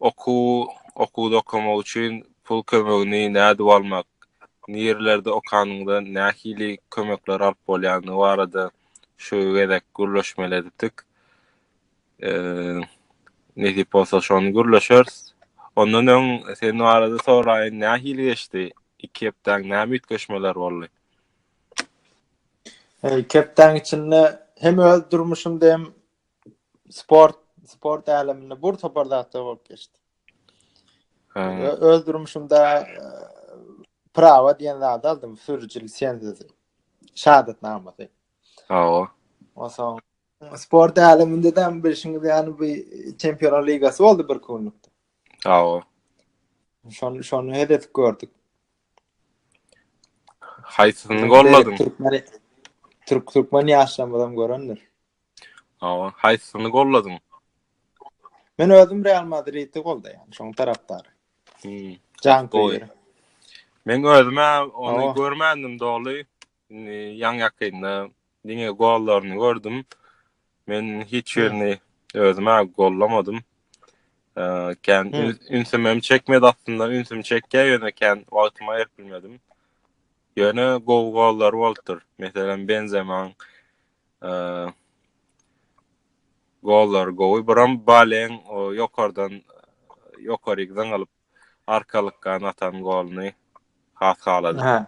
Okuw, okuwda okamak üçin pul kömegini nädip almak, nirelerde okanyňda nähili kömekleri alyp bolýandygy barada şu gezek gürleşmeli edipdik. Nesip bolsa şony gürleşeris. Ondan öň sen barada soraýyn, nähili geçdi? Iki hepdäň näme üýtgeşmeler boldy? Iki hepdäň içinde hem öz durmuşymda hem sport sport äleminde bir topar zatlar bolup geçdi. Öz durmuşumda e, prawa diýen zat aldym, sürüji lisenziýasy. Şahatnamasy. Hawa. Onsoň sport äleminde de bilşiňiz ýaly bir çempionlar ligasy boldy bir günlükde. Hawa. Şonu şonu hed edip gördük. Haýsyny golladyň? Türkmen Türk Türkmen ýaşlarymyzam görendir. Hawa, haýsysyny goldadyň? Men özüm Real Madridi goldaýan, şoň tarapdary. Hmm. Jan goýur. Men özüm ony oh. görmändim doly. Indi ýaň ýakynda diňe gollaryny gördüm. Men hiç birini özüm gollamadym. Kän ünsüm hem çekmedi aslynda, ünsüm çekýä ýöne kän wagtyma ýetmedim. Ýöne gowy gollar bolupdyr. Meselem Benzema Gollary gowy, biram Baleň o ýokardan ýokaryk zyňylyp arkalykdan atan goluny has haladym.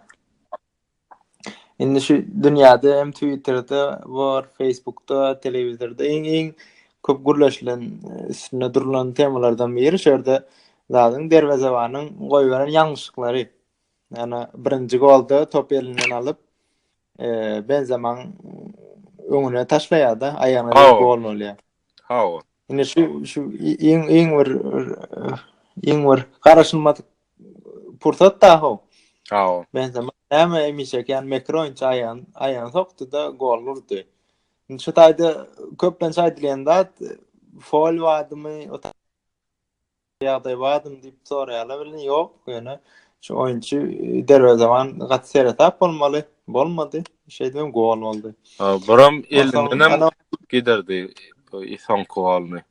Indi şu dünýäde hem Twitterde bor, Facebookda, telewizorda iň-iň köp gürleşilen, üstünde durlan temalardan biri şu ýerde zadyň derwezebanyň goýberen ýalňyşlyklary. Ýa-da birinji golda topy elinden alyp, Benzemaň öňüne taşlaýar-da, aýagyna degip gol bolýar. Hawa. Indi şu şu iň iň bir iň bir garaşylmadyk pursat da ho. Hawa. Benzema näme emişe kan mekro inçe aýan aýan sokdy-da gol urdy. Indi şu taýda köplenç aýdylýan zat fol wadymy Ýagdaý bardymy diýip soraýarlar welin ýok, ýöne şu oýunçy e, derwezeban gaty seresap bolmaly, bolmady. Şeýdibem gol boldy. Ha, buram elinden hem Onsoň, giderdi bu soňky golny.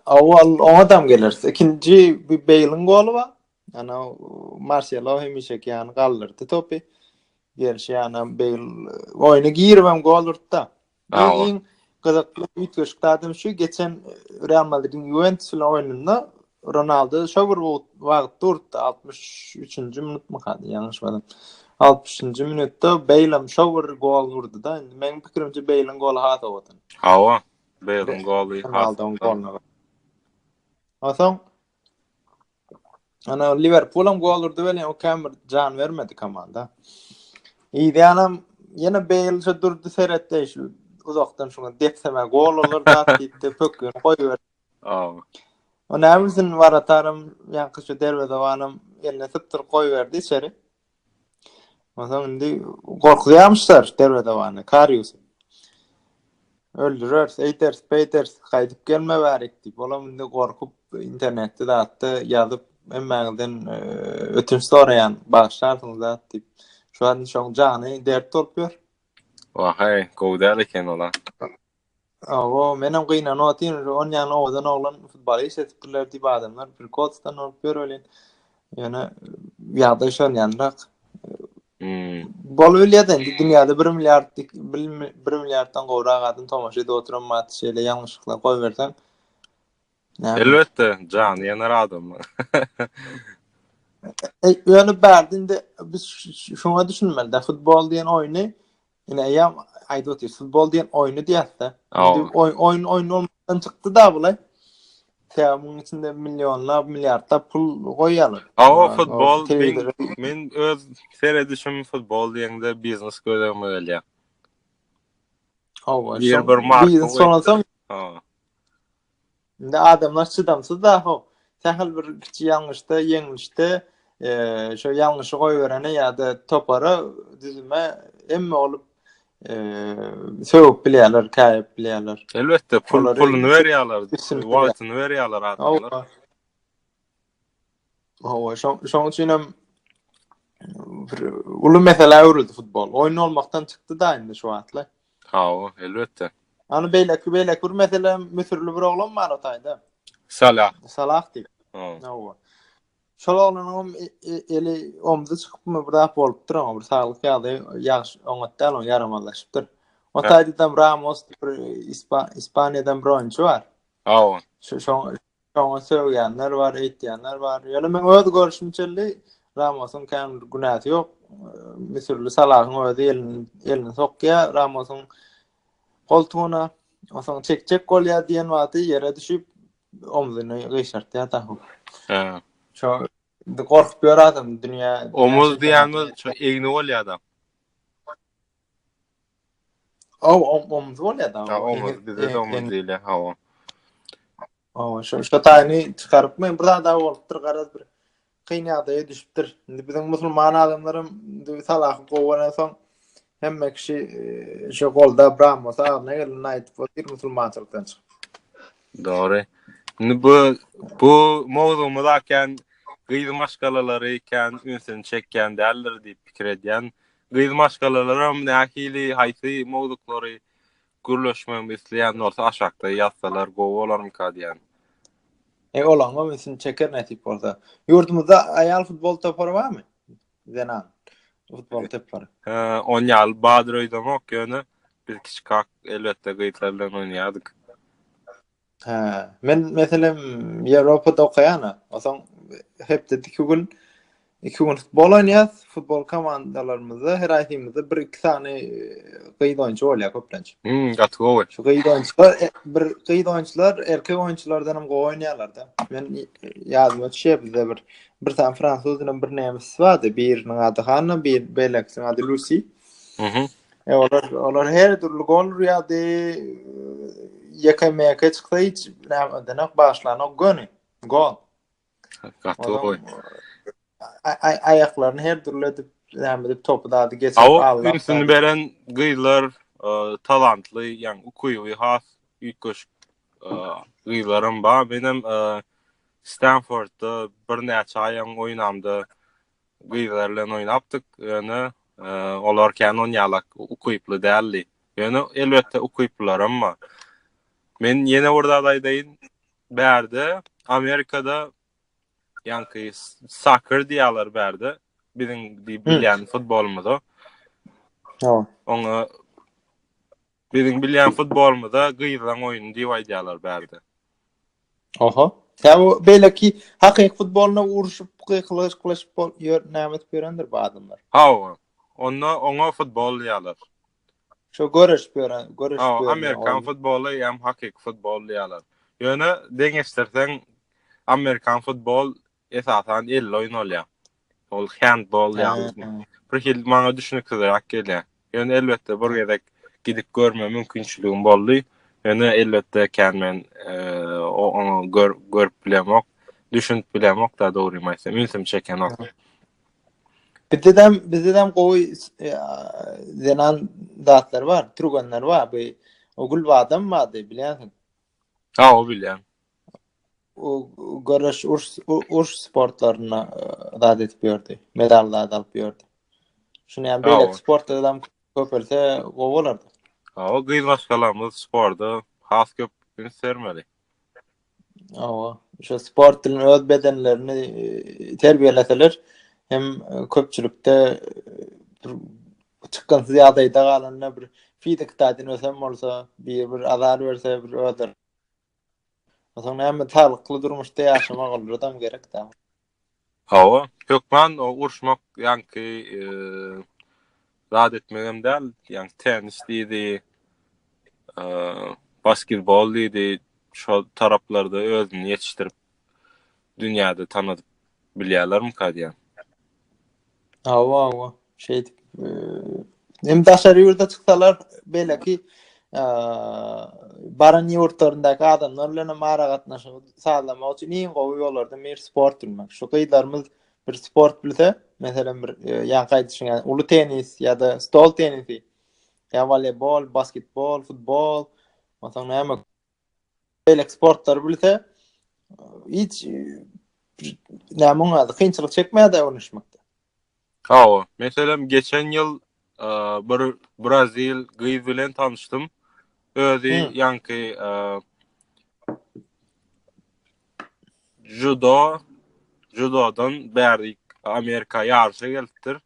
Awal oňa dam geleris. Ikinji bir Beýliň goly bar. Ana Marselo hemişeki ýany galdyrdy topy. Gerşi ýana Beýl oýna girip hem gol urtda. Bu iň gyzykly üýtgeşik zadam şu, geçen Real Madridiň Juventus bilen oýnunda Ronaldo şo bir wagt durdy, 63-nji minutmy kady, ýalňyşmasam. 60-njy minutda Beýlam şo bir gol urdy-da, indi meniň pikirimçe Beýliň goly has owadan. Hawa, Beýliň goly has owadan. Onsoň Ana Liverpool hem gol urdy welin o käm bir jan bermedi komanda. Ýanam ýene Bale şu durdy seretdi şu uzakdan şuňa depseme gol olur da diýdi pökün goýber. Aw. O näme üçin waratarym ýa şu derwezewanym eline sypdyryp goýberdi içeri. Ondan indi gorkuzýamyşlar derwezewany, Kariusy. Öldüreris, eýderis, beýderis, gaýdyp gelme bärik diýip, olam indi gorkup internetde zatda ýazyp, hemmäňizden e, ötünç soraýan, bagyşlarsyňyz zat diýip. Şu an şoň jany dert bolup ýör. Wahaý, gowy däl eken ola. Awa, menem gynanyp otyryn, şu on ýany owadan oglan futbala işledipdirler diýip adamlar prikotsdan bolup ýör welin, ýöne ýagdaý şonýanrak. Hmm. Bolup bilýär-de, indi dünýäde bir milliard, bir milliarddan gowrak adam tomaşa edip oturan wagty şeýle ýalňyşlyklar goýberseň, Elbetde, jany ýanar adam. Ýöne bärde indi biz şuňa düşünmeli-dä, futbol diýen oýny Ine aýam aýdyp otyr, futbol diýen oýny diýäsde. Indi oýun oýun olmakdan çykdy da bulaý. Sebäbi munuň içinde millionlap, milliardlap pul goýýarlar. Awa futbol men öz seredişim futbol diýende biznes gözegime gelýär. Awa, şol bir marka. Biznes soňra soň. Indi adamlar çydamsyz da ho. Sähel bir kiçi ýalňyşda, ýeňlişde eee şo ýalňyşy goýberene ýa-da topara, düzüme hemme bolup eee sögüp bilýärler, käýip bilýärler. Elbetde, pul puluny berýärler, wagtyny berýärler adamlar. Hawa, şoň şoň üçin hem uly meselä öwrüldi futbol. Oýun olmakdan çykdy da indi şu wagtlar. Hawa, elbetde. Ana beýleki beýleki bir mesele müsürli bir oglan bar o taýda. Salah. Salah diýip. Hawa. Şol oglanyň hem e, e, eli omzy çykypmy bir zat bolupdyr oňa bir saglyk ýagdaýy ýagşy oňat däl oň ýaramazlaşypdyr. O taýda Ramos bir Ispaniýadan bir oýunçy bar. Hawa. Şu şoň Oňa sögýänler bar, eýtýänler bar. Ýöne men öz görüşim çenli Ramosyň kän bir günäsi ýok. Müsürli Salahyň özi elini elini sokýar Ramosyň goltugyna. Onsoň çekjek bolýar diýen wagty ýere düşüp omzuny gyşartýar da. He. Şo gorkup ýör adam dünýä. Omuz diýýäňiz, şo egni bolýar adam. Aw, om, omuz bolýar-da. Ha, omuz, Eňil- bizde de eň- omuz eň- diýilýär, ha, o. Aw, şo, şo taýyny çykaryp, men bir zat-a bolupdyr, garaz bir kyn ýagdaýa düşüpdir. Indi biziň musulman adamlaram indi salahy gowy bolansoň, hemme kişi eee, şo golda bran bolsa, agzyna gelenini aýdyp otyr, musulmançylykdan çykyp. Dogry. Indi bu bu mowzugymyz akän gyz maşgalalary kän ünsüni çekýän däldir diýip pikir edýän. Gyz maşgalalaram nähili, haýsy mowzuklary gürleşmegimi isleýän bolsa aşakda ýazsalar gowy bolarmyka diýýän. Eý olaňam ünsüni çeker nesip bolsa. Ýurdumyzda aýal futbol topary barmy? Zenan futbol topary. Ony ýaly badyr öýdemok ýöne biz kiçikak elbetde gyzlar bilen oýnaýardyk. Hä, men meselem Ýewropada okaýan-a. Onsoň hepdede iki gün, iki gün futbol oýnaýas. Futbol komandalarymyzda her aýdymyzda bir-iki sany e, gyz oýunçy bolýar köplenç. Hmm, gaty gowy. Şu gyz oýunçylar, e, bir gyz oýunçylar erkek oýunçylardan hem gowy oýnaýarlar-da. Men e, ýadyma düşýär bizde bir bir sany fransuz bilen bir nemes bardy. Biriniň ady Hanna, bir beýlekisiniň ady Lusi. Mhm. E, olar, olar her dürli gol urýardy. Ýeke meke çyksa hiç näme denek başlana göni. Gol. Gaty goý. Ay ayaklarını her dürli edip näme edip topu dadı geçip aldı. Awak ünsüni beren gyzlar e, talantly, yani ukuýy has üýtgeşik e, gyzlarym bar. Benim e, Stanfordda bir näçe aýam oýnamda Gyzlar bilen oýnapdyk, ýöne olar kän onýalak ukyply däldi. Ýöne elbetde ukyplylaram bar. Men ýene bir zat aýdaýyn. Bärde Amerikada ýanky soccer diýýärler bärde. Biziň diýip bilýän futbolumyza. Oňa Biziň bilýän futbolymyza gyzlaň oýny diýip aýdýarlar bärde. Oho. Tä bu beýleki hakyky futboluna urşup gykylyşyp bol ýör näme edip ýörendir bu adamlar. Hawa. Onda oňa futbol diýýärler. Şo göreşip ýören, göreşip ýören. Hawa, amerikan futboly hem hakyky futbol diýýärler. Ýöne deňeşdirseň amerikan futbol Esasan elli oýun bolýa. Ol handball ýaly. Bir hil maňa düşüniksizräk gelýä. Ýöne elbetde bir gezek gidip görme mümkinçiligim boldy. Ýöne elbetde kän men oňa gör görüp bilemok. Düşünip bilemok da dogrymy aýtsam. Ünsüm çekenok. Bizedem bizedem gowy zenan zatlar bar. Türgenler bar. Bu Ogulbadam bardy bilýänsiň. Hawa bilýän. O görüş urs urs sportlaryna zat edip ýördi. Medal zat alyp ýördi. Şuny hem beýle sportda adam köpelse gowy bolardy. Hawa gyz maşgalamyz sportda has köp üns bermeli. Hawa, şu sport bilen öz bedenlerini e, terbiýeleseler hem köpçülikde e, Çykgynsyz ýagdaýda galanda bir fizik taýdan ösen bolsa, biri bir azar berse, bir özleri. Onsoň näme taglykly durmuşda ýaşamak oldadam gerekdä. Hawa, hökman o urşmak ýaňky zat etmegem däl, ýaňky tennis diýdi, basketbol diýdi, şol taraplarda özüni ýetişdirip dünýäde tanadyp bilýärlermika diýýän. Hawa, hawa. Şeýdip, hem daşary ýurda çyksalar, beýleki baran ýurtlaryndaky adamlar bilen hem aragatnaşygy sazlamak üçin iň gowy ýollardan biri sport bilmek. Şu gyzlarymyz bir sport bilse, meselem bir ýaňky aýdyşyň ýaly uly tennis ýa-da stol tennisi, ýa-da woleýbol, basketbol, futbol, onsoň näme beýleki sportlary bilse, hiç näme oňa ady kynçylyk çekmäde öwrenişmekde. Hawa, meselem geçen ýyl bir brazil gyz bilen tanyşdym. Özi ýanky judo, judodan bäri Amerika ýaryşa gelipdir.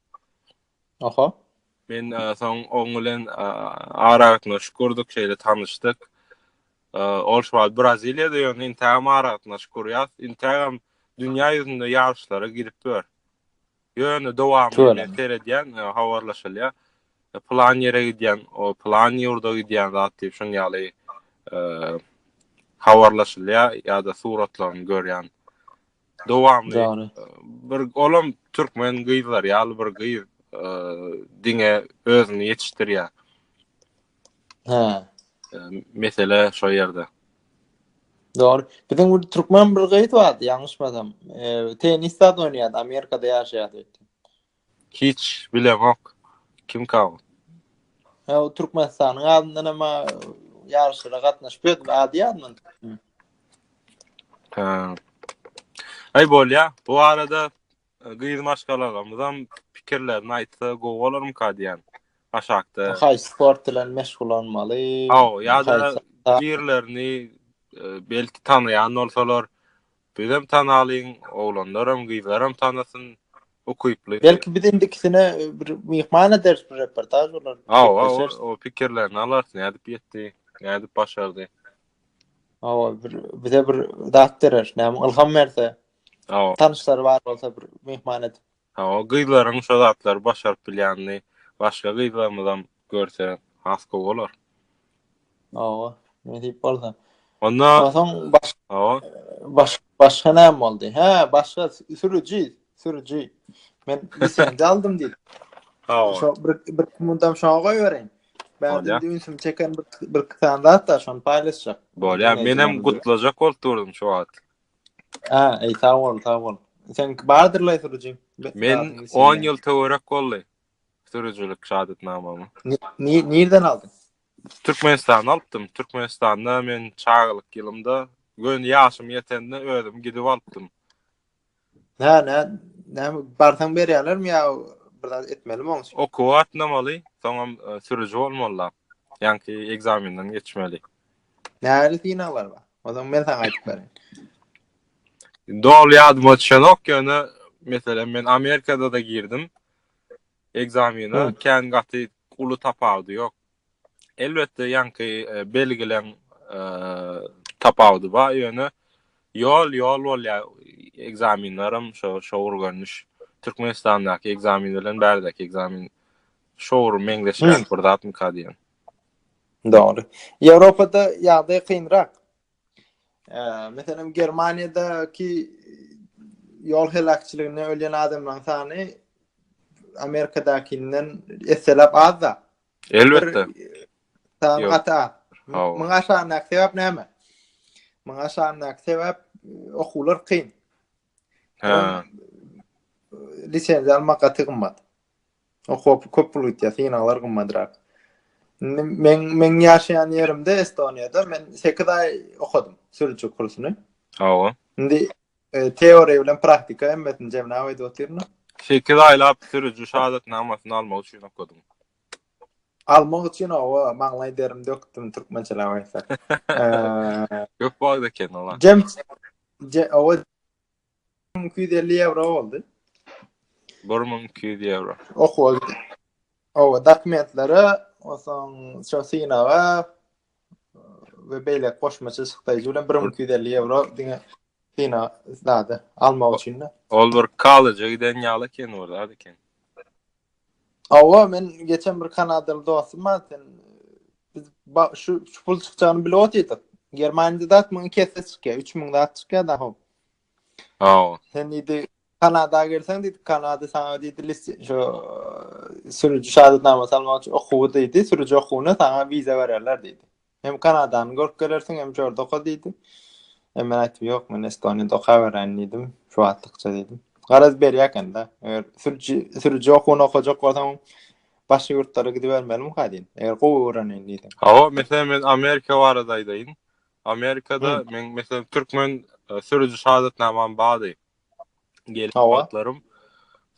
Oho. Men soň oň bilen aragatnaşyk gurdyk, şeýle tanyşdyk. Ol şu wagt Braziliýada ýöne intägem aragatnaşyk gurýas. Intägem dünýä ýüzünde ýaryşlara girip ýör. Ýöne dowamly men seredýän, habarlaşylýar. Plan ýere gidýän, o plan ýurda gidýän zat diýip şun ýaly habarlaşylýar ýa-da suratlaryny görýän. Dowamly. Dogry. Bir olam türkmen gyzlar ýaly bir gyz e, diňe özüni ýetişdirýär. Hä. E, mesele şo ýerde. Dogry. Biziň bir türkmen bir gyz bardy, ýalňyşmasam. E, tenis zat oýnaýardy, Amerikada ýaşaýardy. Hiç bilemok kim kabo. Ha o Türkmenistanyň adyndan hem ýaryşlara gatnaşyp ýördi ady ýadym. Ha. Aý bolýa. Bu arada e, gyz maşgalalarymyz hem pikirlerini aýtsa gowy bolarmy ka diýen. Aşakda. Haý sport bilen meşgul bolmaly. Aw, ýa-da birlerini e, belki tanaýan bolsalar, Bizem tanalyň, oglanlaram, gyzlaram tanasyn, ukyply. Belki biz indikisine bir myhman ederis bir reportaj bolar. Hawa, o pikirlerini alarys, nädip etdi, nädip başardy. Hawa, bir bize bir zat berer, näme ylham berse. Hawa. Tanyşlary bar bolsa bir myhman edip. Hawa gyzlaryň şo zatlary başaryp bilýänini başga gyzlarymyzam görse has gowy bolar. Hawa, nesip bolsa. Onda Soň baş Hawa. baş başga näme boldy? Hä, başga sü- sürüji, sürüji. Men lisenziýa aldym diýdim. Hawa. Şo bir bir mundam şoňa goýbereýin. Bärdin Bolýar. indi ünsümi çeken bir bir iki sany zat bar, şony paýlaşjak. Bolýar. Menem Dinleýjilerimize. gutlajak bolup durdum şu wagt. Aa, sag bol, sag bol. Sen bardyrlaý sürüji. Men 10 ýyl töwerek boldy. Sürüjilik şahatnamamy. Nirden aldyň? Türkmenistanda alypdym. Türkmenistanda men çagalyk ýylymda, gön ýaşym ýetende özüm gidip alypdym. Hä, nä, nä barsaň berýärlermi ýa bir zat etmelimi oň üçin? Okuw atnamaly, soňam e, sürüji bolmaly. Ýanki ekzamenden geçmeli. Nähili synaglar bar? O zaman men saňa aýdyp bereýin. Doly ýadyma düşenok, ýöne meselem men Amerikada da girdim ekzamene, kän gaty uly tapawudy ýok. Elbetde ýaňky e, belgileň e, tapawudy bar, ýöne ýol ýol bolýar. Ekzamenlerim şo şo görnüş Türkmenistandaky ekzamen bilen bärdäki ekzamen şo meňzeşýär bir zatmyka diýen. Dogry. Ýewropada ýagdaý kynrak. Eee, meselem, Germaniýadaky ýol heläkçiliginde ölýän adamlaryň sany Amerikadakynyňdan esseläp az-da. Elbetde. Sany Ýok. gaty az. Hawa. Muňa aşandaky sebäp näme? Muňa aşandaky sebäp e, okuwlar kyn. Hä. Lisenziýa almak gaty gymmat. Okuwa köp pul gitýär, synaglar gymmadrak. Men men ýaşaýan ýerimde Estoniýada men 8 aý okadym sürüji kursuny. Hawa. Indi e, teoriýa bilen praktika hemmesini jemläp aýdyp otyryn. 8 aýlap sürüji şahadatnamasyny almak üçin okadym. Almak üçin hawa, maňlaý derim dökdüm türkmençeläp aýtsak. Köp wagt eken ola. Jem Je, owa. Iki ýüz elli ýewro boldy. Bir müň iki ýüz ýewro. Okuwa gitdi. Owa, dokumentlere, onsoň şu synaga we beýle goşmaça çykdaýjy bilen bir müň iki ýüz elli ýewro diňe syna zady almak üçin-de. Ol bir kollejä giden ýaly eken, bir zat eken. Hawa, men geçen bir kanadaly dostum bar, sen biz şu şu pul çykjagyny bilip otyrdyk. Germaniýada dat muňa iki esse çykýar, 3000 zat çykýar da hop. Hawa. Sen diýdi, Kanada gelseň diýdi, Kanada sana diýdi, list şu sürüji şahadatnama salmak üçin okuwy diýdi, sürüji okuwyna sana viza bererler diýdi. Hem Kanadany görüp gelersiň, hem şorda oka diýdi. E men aýtdym, ýok, men Estoniýada okaberäýin diýdim, şu wagtlykça diýdim. Garaz berýär ekende. Eger sürüji sürüji okuwyny okajak bolsaň, başga ýurtlara gidibermelimika diýdim. Eger gowy öwreneýin diýsem. Hawa, meselem men Amerika barada aýdaýyn. Amerikada men meselem türkmen e, sürüji şahadatnamam bardy. Gelip wagtlarym.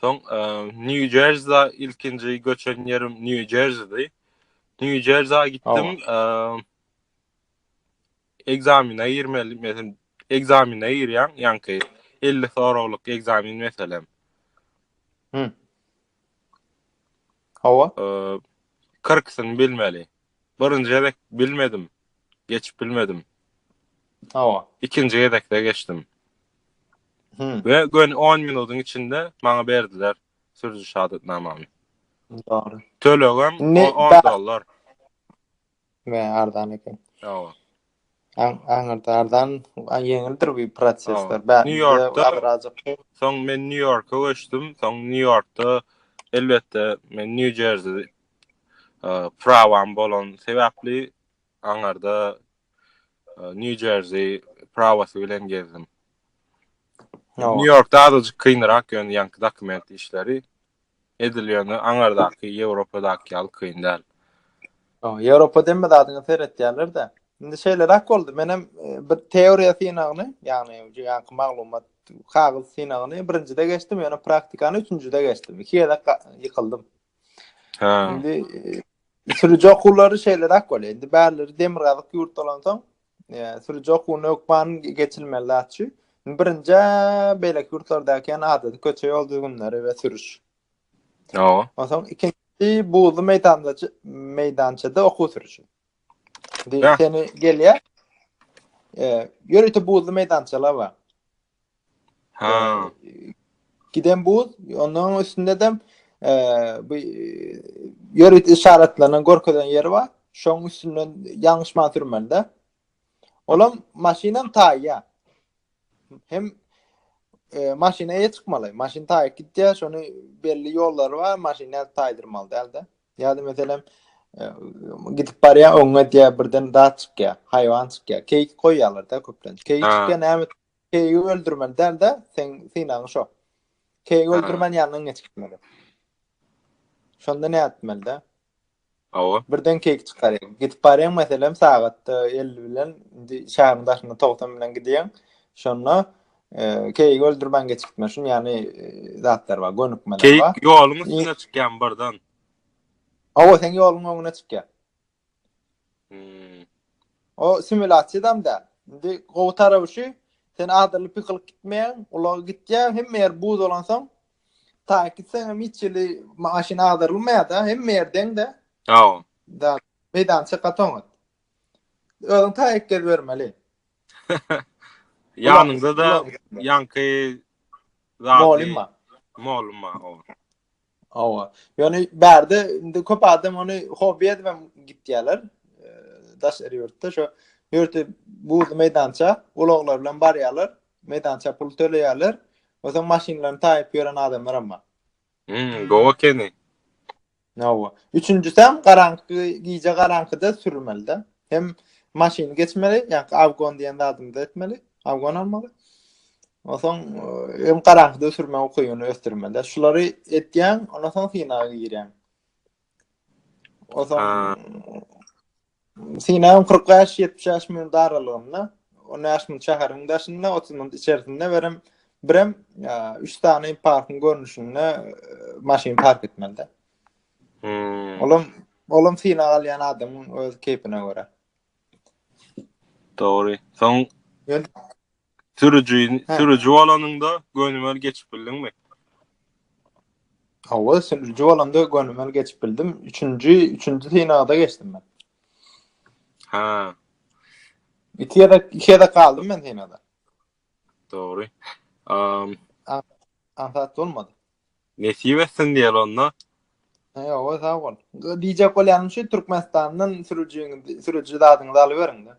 Soň e, New Jersey ilkinji göçen ýerim New Jerseydi. New Jersey gitdim. E, egzamine girmeli, meselem, egzamine girýän, ýanki 50 soraglyk egzamin meselem. Hı. Hawa. E, 40 bilmeli. Birinji gezek bilmedim. Geçip bilmedim. Hawa. Ikinji gezekde geçdim. Hmm. Ve gön 10 minutun içinde bana berdiler sürücü şahatnamamı. Doğru. Tölegem 10 dolar. Ve ardan eken. Doğru. Aňyrdardan ýeňildir bu prosesler. Nýu-Ýorkda Soň men Nýu-Ýorka göçdüm. Soň Nýu-Ýorkda elbetde men Nýu-Jerzi prawam bolan sebäpli aňyrda Nýu-Jerzi prawasy bilen gezdim. Nýu-Ýorkda azajyk kynrak ýöne ýaňky dokument işleri. edilýäni aňardaky Ýewropadaky ýaly kyn däl. Ýewropada hemme zadyňa seretýärler-de. Indi şeýleräk boldy. Men hem e, bir teoriýa synagyny, ýagny ýanky maglumat kagyz synagyny birinjide geçdim, ýöne praktikany üçünjide geçdim. Iki gezek ýykyldym. Ha. Indi e, sürüji okuwlary şeýleräk bolýar. Indi bärileri demirgazyk ýurt bolansoň, sürüji okuwyny hökman geçilmeli zat şu. Birinji beýleki ýurtlardaky ýaly adaty köçe ýol düzgünleri we sürüş. Ýa. Onsoň ikinji buzly meýdanda meýdançada okuw sürüşi. Diýip seni gelýär. E, ýörite buzly meýdançalar bar. Ha. Giden buz, ondan üstünde de e, bu ýörit işaretlerine görkezen ýeri bar. Şoň üstünden ýalňyşman sürmende. Olam maşynam taýýa. Hem e, maşyna eýe çykmaly. Maşyn taýyp gitýär, şony belli ýollary bar, maşyny taýdyrmaly däldi. Ýa-da meselem gidip barýa oňa diýä birden zat çykýa, haýwan çykýa. Keýik goýýarlar-da köplenç. Keýik çykýa näme? Keýigi öldürmeli däl-de, sen synagyň şo. Keýigi öldürmän ýanyndan geçmeli. Şonda näme etmeli-de? Awa. Birden keýik çykýar. Gidip barýaň meselem sagatda 50 bilen, indi şäheriň daşynda 90 bilen gidýäň. Şonda Keýik öldürmän geçikme şun ýany zatlar bar, gönükmeler bar. Keýik ýoluň üstüne çykýan birden. Awa sen ýoluň öňüne çykýan. Hmm. O simulasiýadam da. Indi gowy tarawy şu, sen adaly pykylyk gitmeýän, ulag gitýän, hemme ýer buz bolan soň, ta gitseň hem hiç ýeri maşyn agdyrylmaýar da, hemme ýer deň de. Awa. Da, meýdança gatoňat. Özüň ta ek gez bermeli. Ýanyňda da ýanky Molim ma. Molim ma. Awa. Ýöne bärde indi köp adam ony hobi edip gitýärler. Daş ýurtda şu ýurtda bu meýdança ulaglar bilen barýarlar. Meýdança pul töleýärler. Ozaň maşynlaryny taýyp ýören adamlar hem bar. Hmm, gowa keni. Hawa. Üçünjisem garaňky gije garaňkyda sürmeli-de. Hem maşyn geçmeli, ýa-da awgon diýen zadymy etmeli, awgon almaly. Onsoň hem garaňkyda sürme ukybyny ösdürmeli. Şulary etýän, ondan soň synaga girýän. Onsoň Synagym kyrk bäş, ýetmiş bäş minut aralygynda, on bäş minut şäheriň daşynda, otuz minut içerisinde berem, birem üç sany parkyň görnüşinde maşyn park etmeli. Hmm. Olam, olam synag alýan adamyň öz keýpine görä. Dogry. Soň Sürüji, sürüji bolanyňda gönümel geçip bildiňmi? Hawa, sürüji bolanda gönümel geçip bildim. Üçünji, üçünji synagda geçdim ben. Ha. İki ya da iki ya da kaldım ben senada. Doğru. Um, Ansat olmadı. Nesip etsin diýeli onda. He, o sag bol. Diýjek bolýanym şu Türkmenistandan sürüjiň sürüji zadyňyzy alyberiň-de.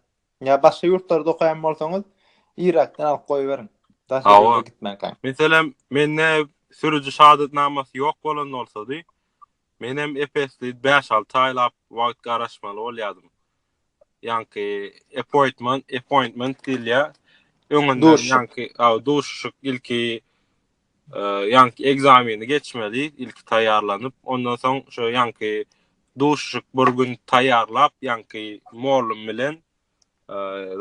Ýa başga ýurtlarda okaýan bolsaňyz, Irakdan alyp goýberiň. Daşary ýurda gitmänkä. Meselem, mende sürüji şahadatnamasy ýok bolan bolsady, menem ep-esli bäş-alty aýlap wagt garaşmaly bolýardym. Ýaňky appointment, appointment diýilýär. Öňünden ýaňky duşuşyk ilki Ýaňky ekzameni geçmeli, ilki taýýarlanyp, ondan soň şo ýaňky duşuşyk bir gün taýýarlap, ýaňky mollum bilen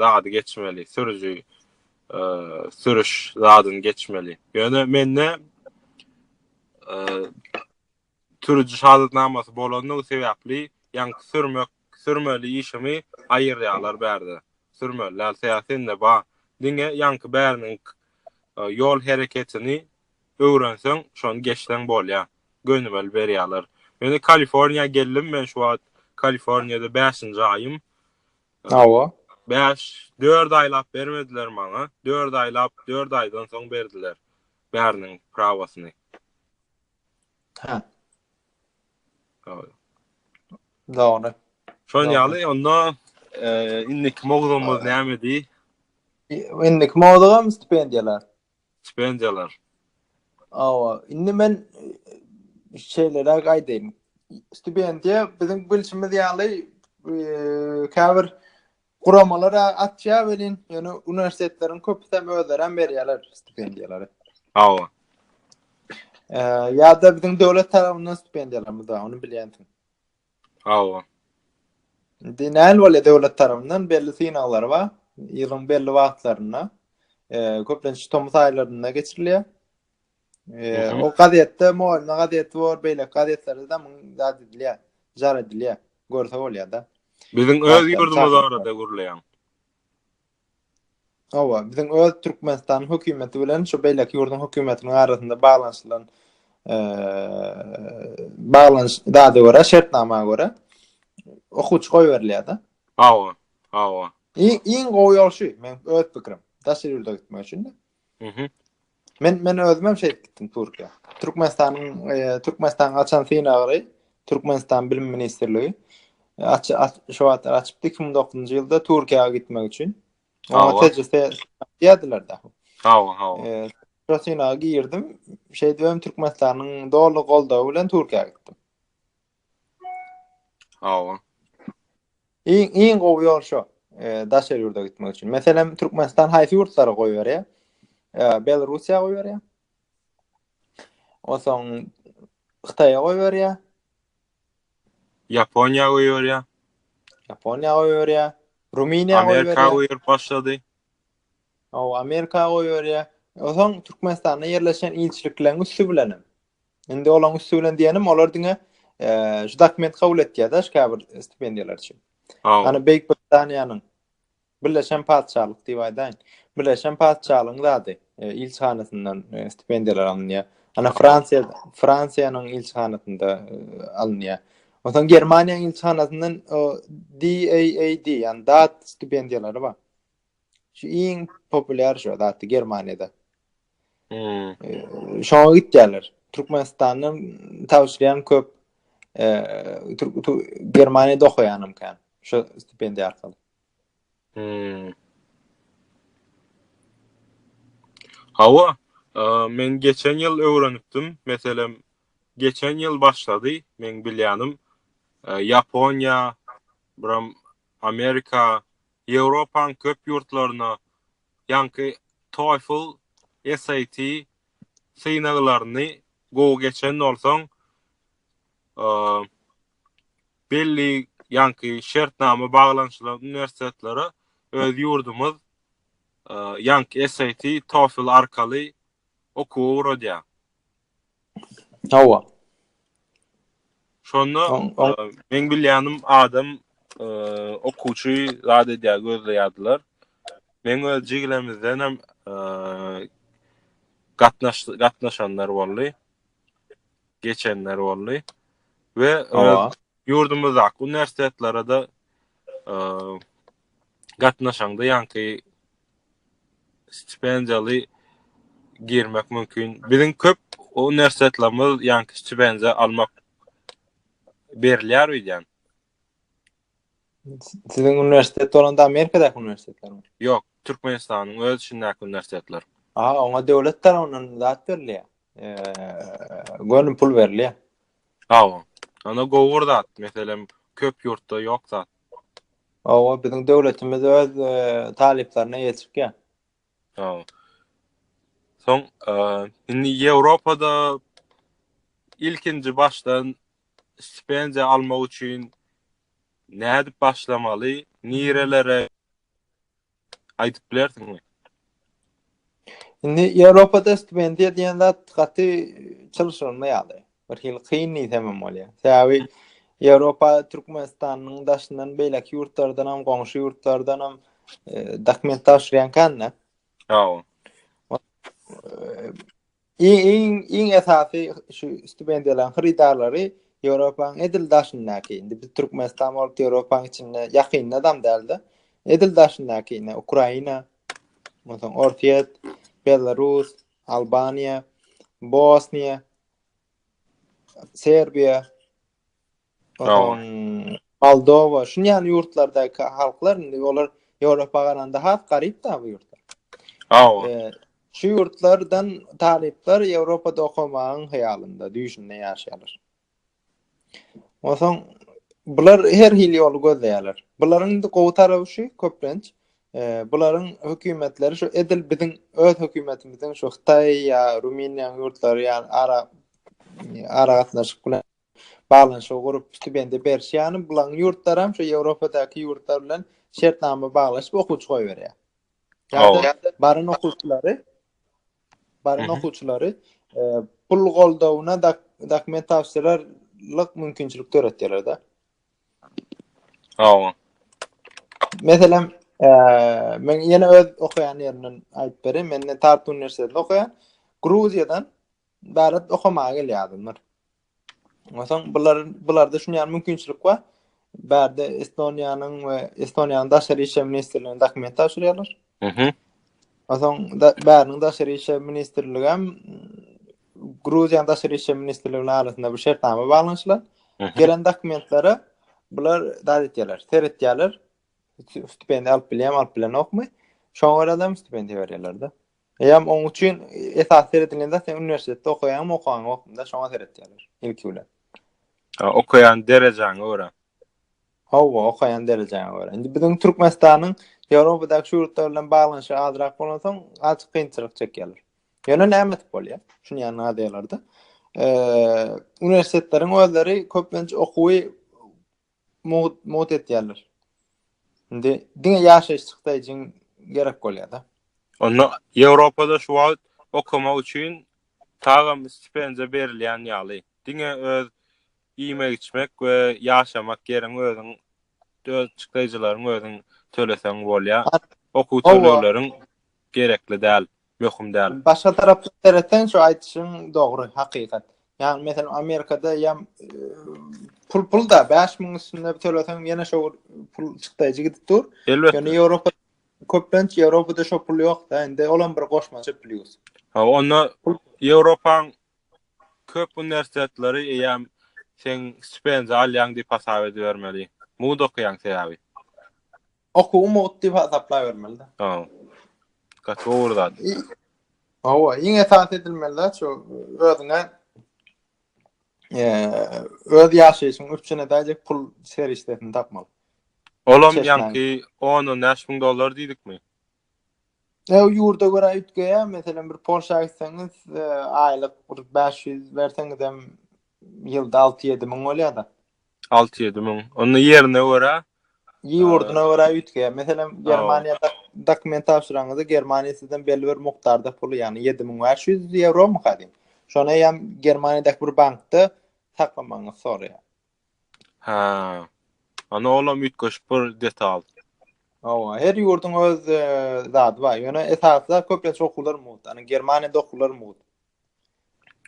zady geçmeli, sürüji sürüş zadyny geçmeli. Ýöne mende Sürüji şahadatnamasy bolandygy sebäpli ýaňky sürmek sürmeli işimi aýyrýarlar bärde sürmeli däl säsinde ba diňe ýaňky bäriniň ýol hereketini öwrenseň şony geçseň bolýa gönümel berýärler meni kaliforniýa geldim men şu wagt kaliforniýada bäşinji aýym hawa bäş dört aýlap bermediler maňa dört aýlap dört aýdan soň berdiler bäriniň prawasyny Hä. Dogry. Dogry. Şonuň ýaly onda eee indiki mowzugymyz nämedi? Indiki mowzugam stipendiýalar. Stipendiýalar. Awa, indi men e, şeýleräk aýdaýyn. Stipendiýa biziň bilşimiz ýaly eee käbir Guramalar açýar welin, ýöne uniwersitetleriň köpüsi hem özleri hem berýärler stipendiýalary. Hawa. Eee, ýa-da biziň döwlet tarapyndan stipendiýalarymyz bar, ony bilýänsiň. Hawa. Indi näl bolýar döwlet tarapyndan belli synaglar bar. Ýylyň belli wagtlarynda, eee, köplenç tomus aýlarynda geçirilýär. O gazetde Molna gazeti bor, beýleki gazetlerde de muň zat edilýär, jar edilýär. Görse bolýar-da. Biziň öz ýurdumyz barada gürleýäň. Hawa, biziň öz Türkmenistanyň hökümeti bilen şu beýleki ýurduň hökümetiniň arasynda baglanyşylan baglanyş dada görä, şertnama görä okuwçy goýberilýär-de. Hawa, hawa. Iň gowy ýol şu, men öz pikirim. Daşary ýurda gitmek üçin. Mhm. Men men özüm hem şeýdip gitdim Türkiýä. Türkmenistanyň e, Türkmenistanyň açan synagyry Türkmenistan bilim ministrligi e, aç, aç şu wagt açypdy 2009-njy ýylda Türkiýä gitmek üçin. Oňa Hawa. tejrübe diýdiler da. Hawa, hawa. E, şu synaga girdim. Şeýdip hem Türkmenistanyň doly goldawy bilen Türkiýä gitdim. Hawa. Iň iň gowy ýol şu. E, daşary ýurda gitmek üçin. Meselem, Türkmenistan haýsy ýurtlara goý berýär? E, Belarusiýa goý berýär. Onsoň Hytaýa goý berýär. Ýaponiýa goý berýär. Ýaponiýa goý berýär. Rumyniýa goý berýär. Amerika goý başlady. O, Amerika goý berýär. Onsoň Türkmenistanda ýerleşen ilçilikleriň üsti bilen. Indi olaň üstü bilen diýenim, olar diňe eee şu dokument kabul etýärdi, şu käbir stipendiýalar üçin. Ýani Beýik Britaniýanyň Birleşen Patyşalyk diýip aýdaýyn. Birleşen Patyşalygyň zady e, ilçihanasyndan e, stipendiýalar alynýar. Ana Fransiýa Fransiýanyň ilçihanasynda e, alynýar. Ondan Germaniýanyň ilçihanasyndan o DAAD, ýani DAAD stipendiýalary bar. Şu iň populýar şu zady Germaniýada. Hmm. Şoňa gitýärler. Türkmenistandan tawşyrýan köp e, Türk Germaniýada okaýanam kan. Şu stipendiýa arkaly. Hmm. Hawa, e, men geçen ýyl öwrenipdim. Meselem, geçen ýyl başlady, men bilýänim. E, Ýaponiýa, biram Amerika, Ýewropanyň köp ýurtlaryna ýaňky TOEFL, SAT synaglaryny gowy geçen bolsaň, belli ýaňky şertnama baglanyşylan uniwersitetlere öz ýurdumyz ýaňky SAT, TOEFL arkaly okuwa ugradýar. Hawa. Şonda men bilýänim adam okuwçy zat edýär, gözleýärdiler. Men öz jigilemizden hem gatnaş gatnaşanlar boldy. Geçenler boldy. We Ýurdumyzdaky uniwersitetlere-de gatnaşaňda ýaňky stipendiýaly girmek mümkin. Biziň köp uniwersitetlerimiz ýaňky stipendiýa almak berilýär öýdýän. Siziň uniwersitet bolanda Amerikadaky uniwersitetlermi? Ýok, Türkmenistanyň öz içindäki uniwersitetler. Aha, oňa döwlet tarapyndan zat berilýär. Eee, göni pul berilýär. Hawa. Onda gowy bir zat. Meselem, köp ýurtda ýok zat. Hawa, biziň döwletimiz öz talyplaryna eýeçikýa. Hawa. Soň, indi Ýewropada ilkinji başdan stipendiýa almak üçin nädip başlamaly, nirelere? aýdyp bilersiňmi? Indi Ýewropada stipendiýa diýen zat gaty çylşyrymly ýaly. Bir hil kyn diýsem hem bolýar. Sebäbi Ýewropa Türkmenistanyň daşyndan beýleki ýurtlardan hem, goňşy ýurtlardan hem e, dokument tabşyrýan kände. Ýa. Iň iň esasy şu stipendiýalaryň hyrydarlary Ýewropanyň edil daşyndaky, indi biz Türkmenistan bolup Ýewropanyň içinde ýakynda dam däldi. Edil daşyndaky ine Ukraina, onsoň Orsýet, Belarus, Albaniýa, Bosniýa, Serbiýa, Moldowa, şun ýaly ýurtlardaky halklar indi olar Ýewropa garanda has garyp da bu ýurtlar. Hawa. Şu ýurtlardan talyplar Ýewropada okamagyň hyýalynda, düýşünde ýaşaýarlar. Onsoň bular her hili ýoly gözleýärler. Bularyň indi gowy taraby şu, köplenç bularyň hökümetleri şu edil biziň öz hökümetimiziň şu Hytaý ýa Rumyniýa ýurtlary ýaly ara ara gatnaşyk bilen baglanyşygy gurup stipendiýa beriş ýaly bulaň ýurtlaram şu ýewropadaky ýurtlar bilen şertnama baglaşyp okuwçy goýberýär. Ýa-da baran okuwçylary baran okuwçylary pul goldawyna dokument tabşyrarlyk mümkinçilik döretýärler-de. Hawa. Meselem, men ýene öz okaýan ýerimden aýdyp berin, men Tartu uniwersitetinde okaýan. Gruziýadan Bärde okamaga gelýär adamlar. Onsoň bular bularda şunýan mümkinçilik bar. Bärde Estoniýanyň we Estoniýanyň daşary işler ministrligine dokument tabşyrýarlar. Mhm. Onsoň da bäriniň daşary işler ministrligi hem Gruziýanyň daşary işler ministrliginiň arasynda bir şertnama baglanyşylan. Mhm. Gelen dokumentlere bular dat etýärler, seretýärler. Stipendiýa alyp bilýärmi, alyp bilenokmy? Şoňa görä hem stipendiýa berýärler-de. Eýýäm oň üçin esas seredilýän zat sen uniwersitetde okaýaňmy, okaňy ýokmyda şoňa seretýärler ilki bilen. Ha, okaýan derejäňe görä. Hawa, okaýan derejäňe görä. Indi biziň Türkmenistanyň Ýewropadaky şu ýurtlar bilen baglanyşygy azrak bolansoň, azajyk kynçylyk çekýärler. Ýöne näme edip bolýar? Şuny ýanyna adýarlarda. Eee, uniwersitetlerin özleri köplenç okuwy mugt mugt etýärler. Indi diňe ýaşaýyş çykdaýjyň gerek bolýar-da. Onda Ýewropada şu wagt okamak üçin tagam stipendiýa berilýän ýaly. Diňe öz iýmek-içmek we ýaşamak ýeriň özüň, öz çykdaýjylaryň özüň töleseň bolýar. Okuw tölegleriň gerekli däl, möhüm däl. Başga tarapdan seretseň şu aýdyşyň dogry, hakykat. Ýagny meselem Amerikada ýa pul pulda 5000 üstünde töleseň ýene şo pul çykdaýjy gidip dur. Elbetde. Ýöne Ýewropa köplenç Ýewropada şo pul ýokda, indi olam bir goşmaça plýus. Ha, onda Ýewropaň köp uniwersitetleri eýýäm sen stipendiýa alýaň diýip hasap edibermeli. Mugt okaýaň sebäbi. Okuw mugt diýip hasaplaýbermeli-de. Tamam. Gaty gowy zat. Hawa, iň esasy edilmeli-de şu özüňe öz ýaşaýşyň üçin edäýjek pul serişdesini tapmaly. Olam ýaňky 10-15 müň dollar diýdikmi? Ew ýurda görä üýtgeýär. Meselem, bir Polşa gitseňiz, e, aýlyk bir 500 berseňizem ýylda 6-7 müň bolýar-da. 6-7 müň. Onda ýerine görä Ýurduna görä üýtgeýär. Meselem, Germaniýada dokument tabşyraňyzda Germaniýa sizden belli bir mukdarda puly, ýagny 7500 ýewromyka diýip. Şony hem Germaniýadaky bir bankda saklamagyňyzy soraýar. Hä. Ana olam üýtgeşik bir detal. Hawa, her ýurduň öz e, zady bar. Ýöne esasda köplenç okuwlar mugt. Ana Germaniýada okuwlar mugt.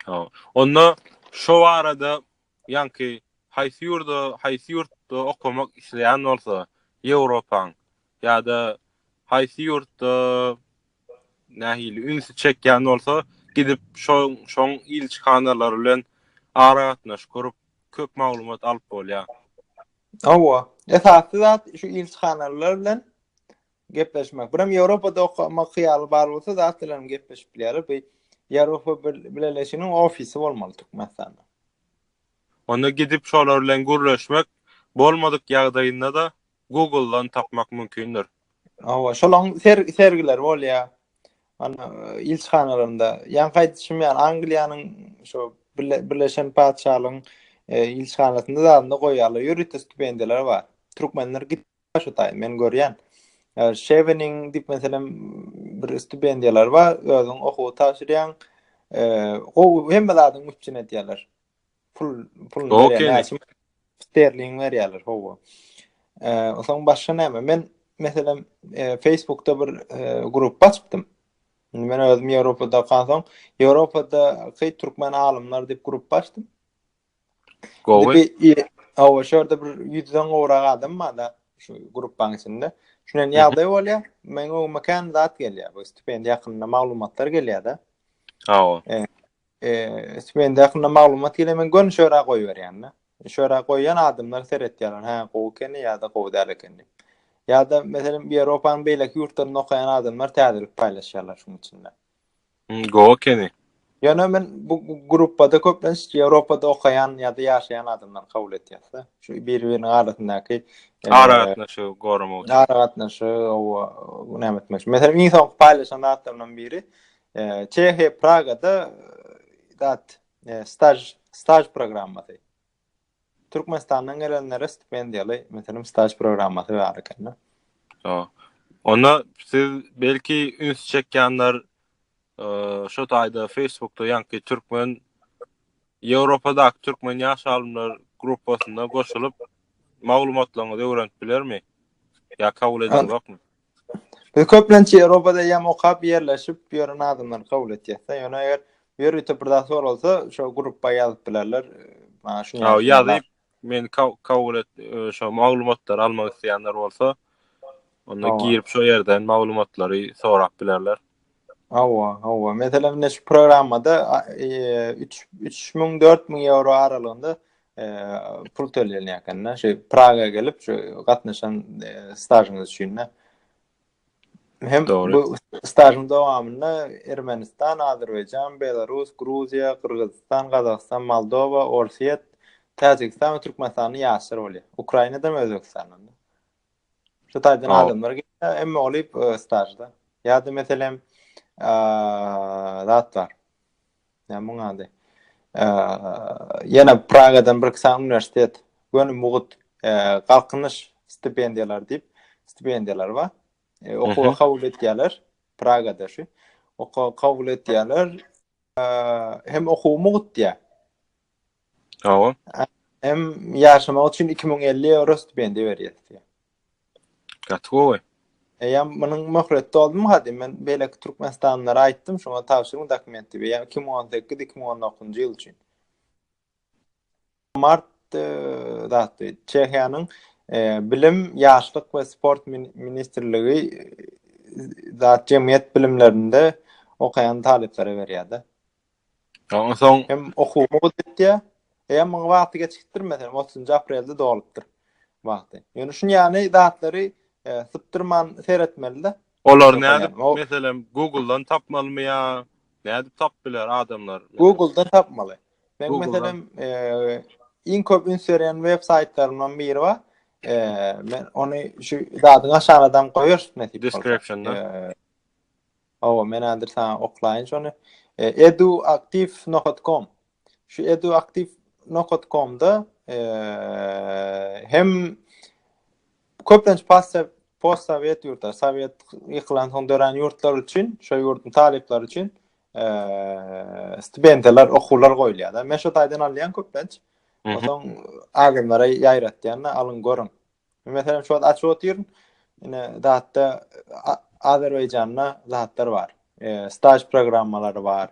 Ha. Onda şu barada ýanki haýsy ýurda, haýsy ýurtda okamak isleýän bolsa, Ýewropaň ýa-da haýsy ýurtda nähili ünsi çekýän bolsa, gidip şoň ilçihanalar bilen aragatnaşyk gurup, köp maglumat alyp bolýar. Hawa, esasy zat şu ilçihanalar bilen gepleşmek. Birem Ýewropada okamak hyýaly bar bolsa, zat bilen hem gepleşip bilýärler. Bu Ýewropa Bileleşiginiň ofisi bolmaly Türkmenistanda. Onda gidip şolar bilen gürleşmek, bolmadyk ýagdaýynda-da Google-dan tapmak mümkindir. Hawa, şolaň sergileri bolýar. Ana, ilçihanalarynda. Ýaňky aýdyşym ýaly, Angliýanyň şu Birleşen Patyşalygyň e, ilçihanasynda zadynda goýýarlar. Ýörite stipendiýalar bar. Türkmenler gidip şu taý, men görýän. E, Şeweniň diýip meselem bir stipendiýalar bar, özüň okuw tabşyrýaň. E, gowy hemme zadyň üpjün edýärler. Pul pul näçe sterling berýärler howa. Eee soň başga näme? Men meselem e, Facebookda bir e, grup açypdym. Men özüm Ýewropada okansam, Ýewropada keý türkmen alymlar diýip grup açdym. Gowy. Awa şurada bir 100-den gowrak adam barda şu grupaň içinde. Şunen ýagdaý bolýar. Meň öňüme kän zat gelýär. Bu stipendiýa hakynda maglumatlar gelýär-de. Awa. E, Eee, mende hakynda maglumat gel, men göni şöra goýberýän-de. Şöra goýýan adamlar seretýärler, hä, gowy ekeni ýa-da gowy däl ekeni diýip. Ýa-da, meselem, Ýewropanyň beýleki ýurtlarynda okaýan adamlar täzelik paýlaşýarlar şunuň üçin-de. Gowy ekeni. Ýöne men bu gruppada köplenç Ýewropada okaýan ýa-da ýaşaýan adamlary kabul etýäs-de. Şu biri-biriniň arasyndaky aragatnaşygy goramak üçin. Aragatnaşygy owa näme etmek üçin. Meselem, iň soňky paýlaşan zatlarymdan biri Çehiýa Pragada dat staj staj programmasy. Türkmenistandan gelenlere stipendiýaly, meselem, staj programmasy bar eken. Onda siz belki üns çekýänler şu taýda Facebookda ýaňky türkmen Ýewropadaky türkmen ýaş alymlar gruppasyna goşulyp maglumatlaryňyzy öwrenip bilermi? Ýa kabul edilmekmi? Biz köplenç Ýewropada ýam okap ýerleşip ýören adamlary kabul etýäs-de. Ýöne eger ýörite bir zat soralsa, şo grupba ýazyp bilerler. Maňa şuny Haw, ýazyp bilerler. ýazyp, meni ka- kabul et, e, şo maglumatlary almak isleýänler bolsa, onda Hawa. girip şo ýerden maglumatlary sorap bilerler. Hawa, hawa. Meselem, ine şu programmada a- e, üç- üç müň, dört müň ýewro aralygynda pul tölenýär ekende. Şu Praga gelip şu gatnaşan e, stajyňyz üçin de. Hem Doğru. bu stajyň dowamynda Ermenistan, Azerbaýjan, Belarus, Gruziýa, Gyrgyzystan, Gazagystan, Moldowa, Orsýet, Täjigistan we Türkmenistandan ýaşlar bolýar. Ukrainadan we Özbegistandan. Şu taýdan adamlar gelýär, emma olyp e, stajda. Ýa-da meselem, zatlar. Näme muň ady? Ýene Pragadan bir kisa uniwersitet, göni mugut galkynyş stipendiýalary diýip, stipendiýalar bar. E, okuwa kabul etýärler Pragada şu. Okuwa kabul etýärler. Hem okuw mugut diýär. Hawa. Hem ýaşamak üçin 2050 euro stipendiýa berýär. Gaty gowy. Eýem munyň möhlet doldumy hadi men beýleki türkmenistanlylara aýtdym şoňa tabşyryň dokumenti eýem 2018-2019-njy ýyl üçin. Mart e, zatdy. Çehiýanyň e, bilim, ýaşlyk we sport ministrligi e, zat jemgyýet bilimlerinde okaýan talyplara berýärdi. Ondan soň hem okuwymy gutdýa. Eýe, muňa wagty geçikdir meselem, 30-njy aprelde dolupdyr wagty. Ýöne şun ýany zatlary e, sypdyrman seretmeli-de. Olar näde meselem Google-dan tapmalymy ýa näde tap biler adamlar? Google-dan tapmaly. Men meselem e, iň köp üns berýän web saýtlarymdan biri bar. E, men ony şu zadyň aşagyna dam goýarys nädip bolsa. Description-da. E, Hawa, men häzir saňa oklaýyn şony. Eduaktiv nokat kom. Şu eduaktiv nokat komda hem köplenç pasta post sowet ýurtlar, sowet ýykylan soň dörän ýurtlar üçin, şo ýurduň talyplary üçin stipendiýalar, okuwlar goýulýar. Men şo taýdan alýan köplenç. Onsoň adamlara ýaýratýan, alyň görüň. Meselem, şu wagt açyp otyryn. Ine, datda Azerbaýjanda zatlar bar. E, staj programmalary bar.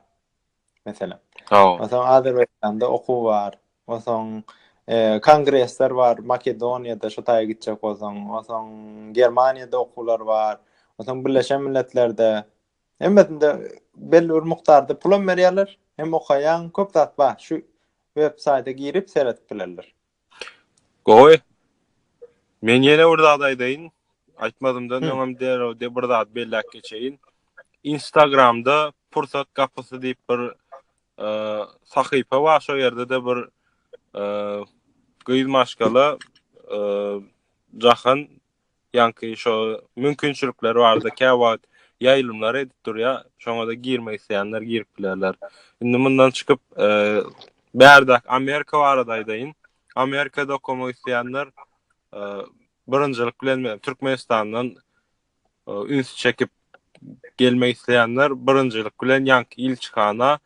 Meselem. Hawa. Onsoň Azerbaýjanda okuw bar. Onsoň e, kongresler bar. Makedoniýada şu taýa gitjek bolsaň, onsoň Germaniýada okuwlar bar. Onsoň Birleşen Milletlerde hemmesinde belli bir mukdarda pul hem berýärler, hem okaýan köp zat bar. Şu web saýta girip seredip bilerler. Gowy. Men ýene bir zat aýdaýyn. Aýtmadymdan öňem derrew de bir zat belläp geçeýin. Instagramda Pursat gapysy diýip bir e, sahypa bar. Şo ýerde de bir e, gyz maşgala e, Jahan ýaňky şo mümkinçilikler barada kä wagt ýaýlymlar edip durýar. Şoňa-da girmek isleýänler girip bilerler. Indi mundan çykyp, e, bärdäki Amerika barada aýdaýyn. Amerikada okamak isleýänler e, birinjilik bilen men Türkmenistandan e, üns çekip gelmek isleýänler birinjilik bilen ýaňky ilçihana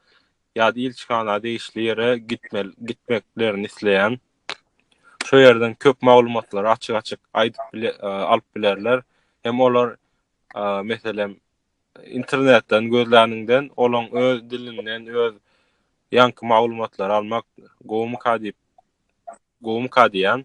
ýa-da ilçihana degişli ýere gitmeklerini isleýän, şo ýerden köp maglumatlary açyk-açyk aýdyp alyp bilerler. Hem olar, meselem, internetden gözläniňden, olaň öz dilinden, öz ýaňky maglumatlary almak gowumyka diýip, gowumyka diýýän.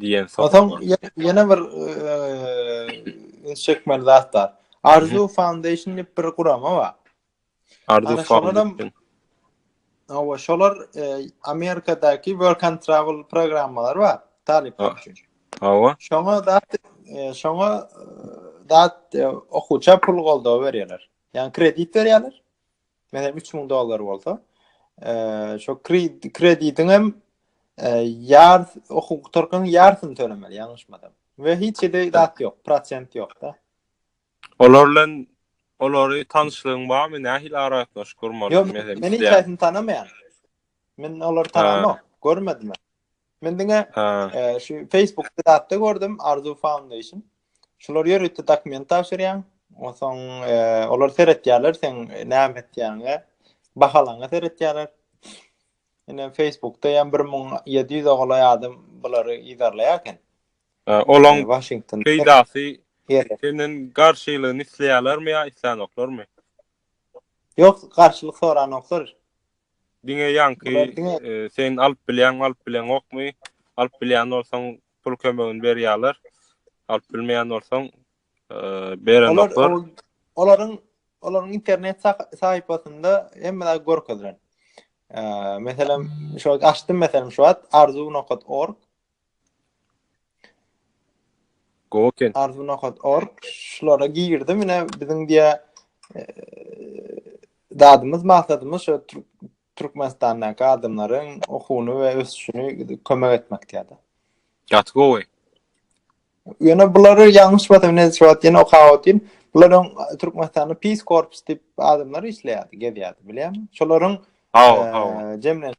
diýen soň. Soň ýene bir üns çekmeli zat bar. Arzu Foundation diýip bir gurama bar. Arzu Foundation. Awa şolar Amerikadaky work and travel programmalary bar. Talyplar üçin. Awa. Şoňa zat şoňa zat okuwça pul goldawy berýärler. Ýani kredit berýärler. Menem 3000 dollar bolsa, eee, şo kreditiň hem ýar okuw gutarkaň ýarsyny tölemeli, ýalňyşmasam. We hiç ýerde zat ýok, prosent ýok-da. Olar bilen olary tanyşlygyň barmy? Nähili aragatnaşyk gurmaly? Ýok, men hiç kim tanamaýan. Men olary tanamok, görmedim. Men diňe şu Facebook zatda gördüm Arzu Foundation. Şular ýörite dokument tabşyrýan. Onsoň olar seretýärler sen näme etýäňe, bahalaňa seretýärler. Ine Facebookda ýa 1700 oglaý adam bulary ýerleýär eken. Olaň Washington peýdasy senden garşylygyny isleýärlermi ýa isleýänoklarmy? Ýok, garşylyk soranoklar. Diňe ýaňky sen alyp bilýäňmi, alyp bileňokmy? Alyp bilýän bolsaň pul kömegini berýärler. Alyp bilmeýän bolsaň berenoklar. Olaryň olaryň internet sahypasynda hemme zat görkezilen. Meselem, şu açdym meselem şu wagt arzuw.org Goken. Arzu nokat org şulara girdim ine biziň diye dadymyz maksadymyz şu Türkmenistandaky adamlaryň okuwyny we ösüşini kömek etmek diýýärdi. Gaty gowy. Ýöne bulary ýalňyş bolsa ne sebäp ýene okap otyryn. Bularyň Türkmenistanda Peace Corps diýip adamlar işleýärdi, gezýärdi, bilýärmi? Şolaryň Hawa, hawa. Jemlenip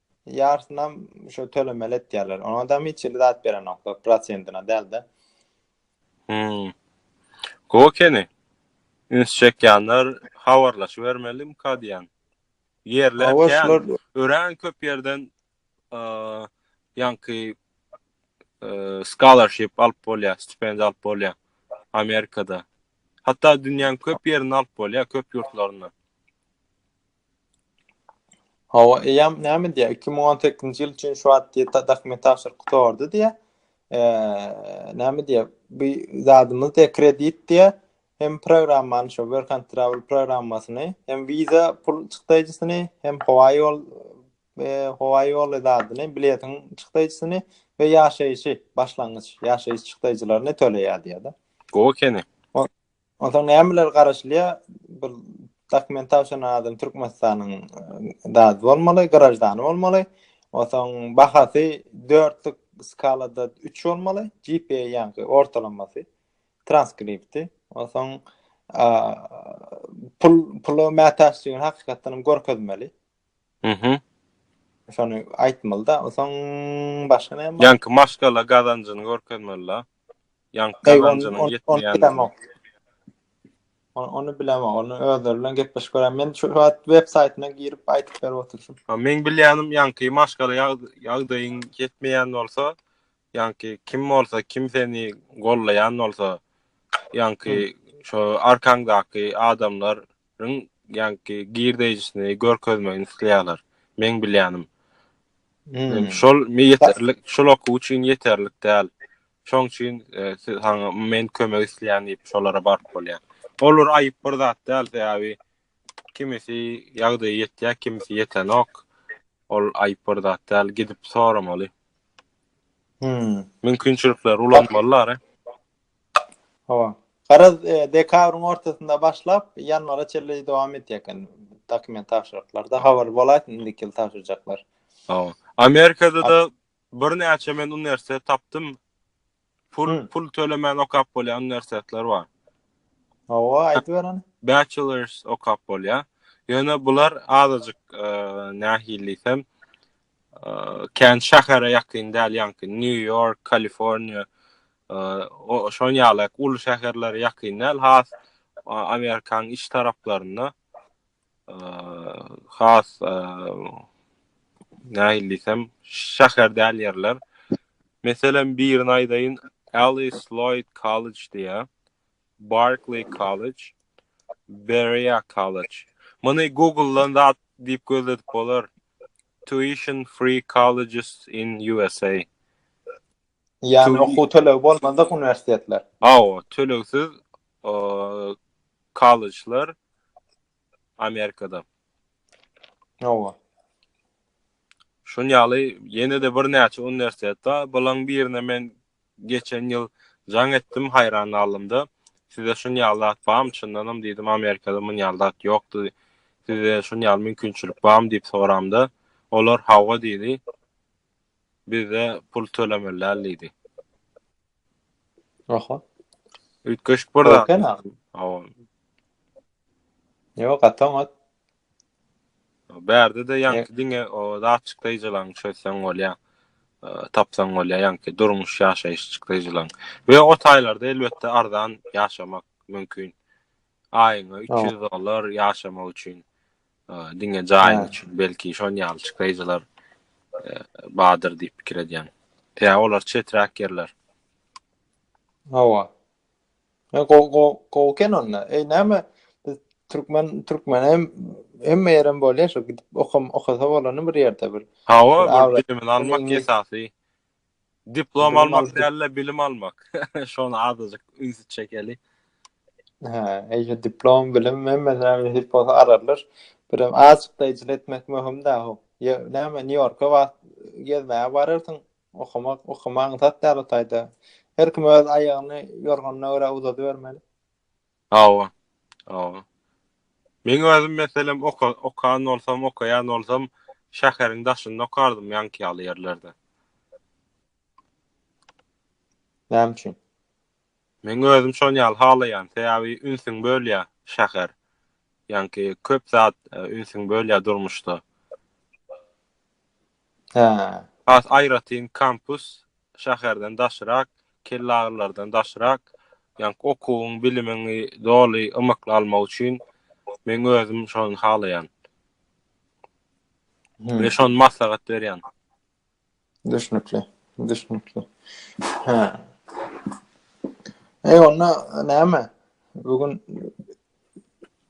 Ýarsynam şu tölemeli etýärler. Ona da hiç hili zat berenoklar, prosentine dälde. Hmm. Go keni. Üns çekýänler habarlaşybermeli mka diýen. Ýerler kän. Örän köp ýerden ýanky scholarship alyp bolýar, stipendiýa alyp bolýar Amerikada. Hatda dünýäň köp ýerinde alyp bolýar, köp ýurtlarynda. Hawa, eýýäm näme diýýär, iki müň on sekizinji ýyl üçin şu wagt diýýär, dokument tabşyryk gutardy diýýär. Eee, näme diýýär, bu zadymyz diýýär, kredit diýýär, hem programmany şu work and travel programmasyny, hem wiza pul çykdaýjysyny, hem howa ýol, eee, howa ýoly zadyny, biletiň çykdaýjysyny we ýaşaýşy, başlangyç ýaşaýyş çykdaýjylaryny töleýär diýýär-de. Gowy ekeni. Onsoň nämeler garaşylýar? Bir dokument tabşyran adam Türkmenistanyň dady bolmaly, graždany bolmaly. Onsoň bahasy dörtlük skalada 3 bolmaly, GPA ýaňky ortalamasy, transkripti. Onsoň pul pula mätäçdigini hakykatdan hem görkezmeli. Mhm. Şony aýtmalyda, soň başga näme bar? Ýaňky maşgala gazanjyny görkezmelida. Ýaňky gazanjynyň ýetmeýändigini. Ony bilemok, ony özleri bilen gepleşip görä. Men şu wagt web saýtyna girip aýdyp berip oturyşym. Meň bilýänim ýaňky maşgala ýagdaýyň ýetmeýän bolsa, ýaňky kim bolsa, kim seni gollaýan bolsa, ýaňky şo arkaňdaky adamlar Ň ýaňky girdeýjisini görkezmegini isleýärler. Meň bilýänim. Hmm. Şol mi ýeterlik, şol okuw üçin ýeterlik däl. Şoň üçin e, siz haňa men kömek isleýän diýip şolara baryp bolýar. Olar aýyp bir zat däl, sebäbi kimisi ýagdaýy ýetýär, kimisi ýetenok. Ol aýyp bir zat däl, gidip soramaly. Hmm. Mümkinçilikleri ulanmalylar. e. Hawa. Garaz, dekabryň ortasynda başlap, ýanwara çenli dowam edýär eken dokument tabşyryklarda. Habar bolaýsyn, indiki ýyl tabşyrjaklar. Hawa. Amerikada-da birnäçe men uniwersitet tapdym. Pul, pul tölemän okap bolýan uniwersitetler bar. Hawa, aýdyber ony. Bachelors okap bolýar. Ýöne bular azajyk nähili diýsem, kän şähere ýakyn däl ýaňky New York, Kaliforniýa, Şoň ýaly uly şäherlere ýakyn däl, has Amerikanyň iç taraplarynda, has nähili diýsem, şäher däl ýerler. Meselem, birini aýdaýyn, Alice Lloyd College diýýär, Barclay College, Berea College. Muny Google-dan zat diýip gözledip bolar. Tuition free colleges in USA. Ýagny okuw tölegi bolmadyk uniwersitetler. Hawa, tölegsiz kollejler Amerikada. Hawa. Şun ýaly ýene-de birnäçe uniwersitet bar. Bulaň birine men geçen ýyl jaň etdim, haýran galdymda. Sizde şun ýaly zat barmy? Çyndanam diýdim, Amerikada muny ýaly zat ýokdy. Sizde şun ýaly mümkinçilik barmy diýip soramda, olar hawa diýdi. bize pul tölemeli däl diýdi. Oho. Üýtgeşik bir zat. Köken agam. Hawa. Ýok, gaty oňat. Bärde de ýaňky diňe o datçyk daýjylaň çözseň bolýa. Tapsaň bolýa ýaňky durmuş ýaşaýyş çykdaýjylaň. We o taýlarda elbetde arzan ýaşamak mümkin. Aýyňa 300 dollar ýaşamak üçin, diňe jaýyň üçin belki şon ýaly çykdaýjylar badyr diýip pikir edýän. Tä olar çeträk ýerler. Hawa. E go go go ken onda. Ey näme? Türkmen Türkmen hem hem meýrem bolýar şu gidip okam okasa bolany bir ýerde bir. Hawa, bilimiň almak esasy. Diplom almak däl-de, bilim almak. Şony azajyk üns çekeli. Hä, eýýe diplom, bilim hemme zähmet edip bolsa ararlar. Birem azajyk daýjyl etmek möhüm-dä ho. Ýa, näme, Nýu-Ýorka wagt gezmäge bararsyň, okamak, okamaň zat däl o taýda. Her kim öz aýagyny ýorganyna görä uzadybermeli. Hawa. Hawa. Meň özüm meselem oka okan bolsam, okaýan bolsam, şäheriň daşynda okardym, ýaňky ýaly ýerlerde. Näme üçin? Meň özüm şon ýaly halaýan, sebäbi ünsüň bölýä şäher. Ýaňky köp zat ünsüň bölýä durmuşda. Hä. Has aýratyn kampus şäherden daşrak, kellagyrylardan daşrak, ýaňky okuwyň, bilimiňi doly, ymykly almak üçin meň özüm şony halaýan. We şony maslahat berýän. Düşnükli, düşnükli. Hä. Eý onda näme? Bu gün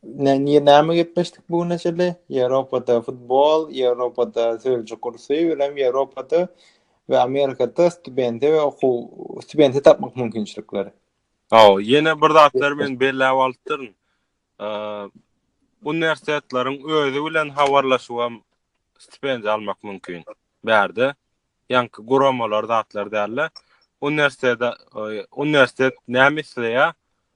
Ne, niye näme gepleşdik bu güne çenli? Ýewropada futbol, Ýewropada sözcü kursy, welem Ýewropada we Amerikada studenti we okuw studenti tapmak mümkinçilikleri. Hawa, ýene bir zatlar men belläp alypdyryn. Eee, uniwersitetleriň özi bilen habarlaşyp hem stipendiýa almak mümkin. Bärde ýaňky guramalar zatlar dälde. Uniwersitete, uniwersitet näme isleýär?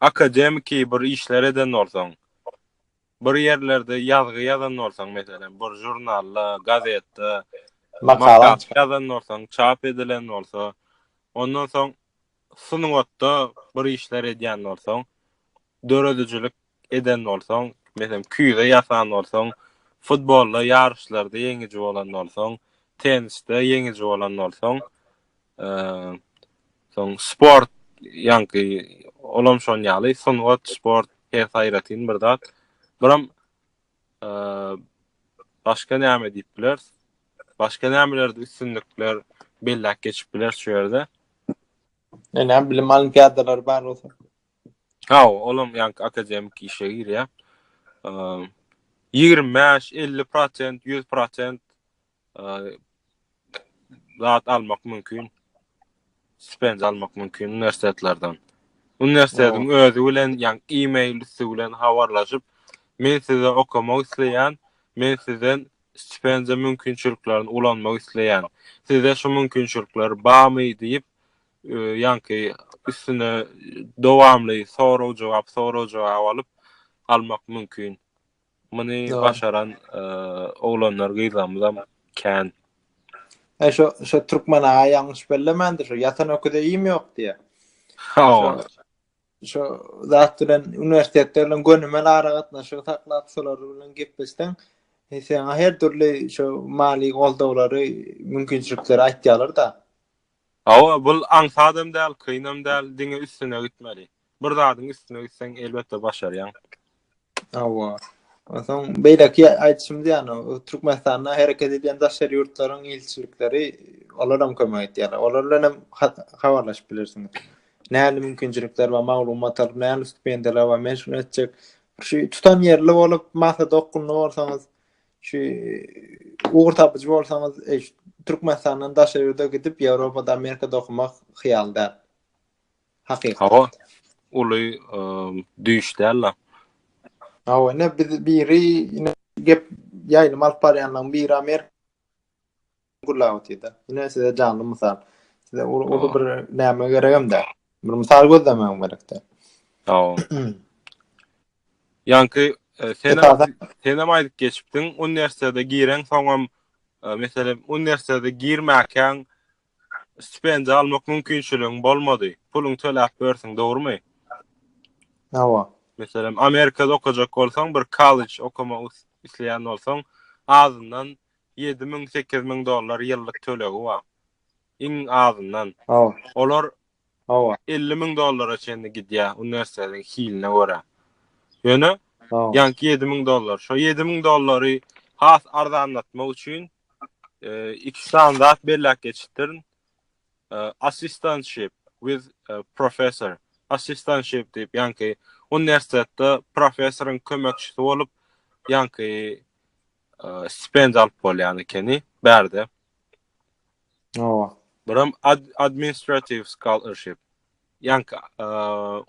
akademiki bir işler eden bolsaň, bir ýerlerde ýazgy ýazan bolsaň, meselem, bir žurnalda, gazetde makala ýazan bolsaň, çap edilen bolsa, ondan soň sungatda bir işler edýän bolsaň, döredijilik eden bolsaň, meselem, küýze ýasan bolsaň, futbolda ýaryşlarda ýeňiji bolan bolsaň, tennisde ýeňiji bolan bolsaň, soň sport, ýaňky olam şoň ýaly, sungat, sport, hers aýratyn bir zat. Biram başga näme diýip bileris? Başga nämelerde üstünlikler belläp geçip bileris şu ýerde? Ýöne bilim olimpiadalary bar bolsa. Hawa, olam ýaňky akademik işe girýär. Eee, ýigrimi bäş, elli prosent, ýüz prosent, eee, zat almak mümkin. Stipendiýa almak mümkin uniwersitetlerden. Uniwersitetiň özi bilen, ýaňy e-mail üsti bilen habarlaşyp, men size okamak isleýän, men sizden stipendiýa mümkinçiliklerini ulanmak isleýän. Sizde şu mümkinçilikler barmy diýip, ýaňky üstüne dowamly sorag-jogap, sorag-jogap alyp almak mümkin. Muny başaran oglanlar, gyzlarymyzam kän. E şu şu türkmen aga ýalňyş bellemändir, şu ýatan öküze iým ýok diýýär. Hawa. Şu zat bilen uniwersitetde bilen gönümel aragatnaşygy saklap, şolar bilen gepleşseň, e, sana her dürli şu mali goldawlary, mümkinçilikleri aýtýarlar-da. Hawa, bul aňsadam däl, kynam däl, diňe üstüne gitmeli. Bir zadyň üstüne gitseň, elbetde başarýaň. Hawa. Onsoň beýleki aýdyşymyz ýaly, Türkmenistanda hereket edýän daşary ýurtlaryň ilçilikleri, olaram kömek edýärler. Olar bilen hem habarlaşyp bilersiňiz. Nähili mümkinçilikler bar, maglumat alyp, nähili stipendiýalar bar, men şuny etjek. Şu tutanýerli bolup, maksada okgunly bolsaňyz, Şu ugur tapyjy bolsaňyz, e, Türkmenistandan daşa ýurda gidip, Ýewropada, Amerikada okumak hyýal däl. Hakyky. Hawa, uly e, düýş däl la. Hawa, ne biz biri, ne gep ýaýlym alyp barýanlaryň biri Amerika gurlap otyr-da. Ine size janly mysal. Size uly bir näme geregem däl. Bir mysal gözlemegem gerek däl. Hawa. Ýanky e, sen sen hem aýdyp geçipdiň, uniwersitete giren soňam e, meselem uniwersitete girmäkäň stipendiýa almak mümkinçiligiň bolmady. Puluň töläp bersiň, dogrumy? Hawa. Meselem, Amerikada okajak bolsaň, bir kollej okama isleýän bolsaň, azyndan Ýedi müň, sekiz müň dollar ýyllyk tölegi bar. Iň azyndan. Hawa. Olar. Hawa. Elli müň dollara çenli gidýär uniwersitetiň hiline görä. Ýöne. Hawa. Ýaňky ýedi müň dollar. Şo ýedi müň dollary has arzanlatmak üçin iki sany zat belläp geçipdirin. Assistantship with professor. Assistantship diýip, ýaňky uniwersitetde professoryň kömekçisi bolup, ýaňky stipendiýa alyp bolýan ekeni bärde. Owa. Buram ad administrative scholarship. Yani e,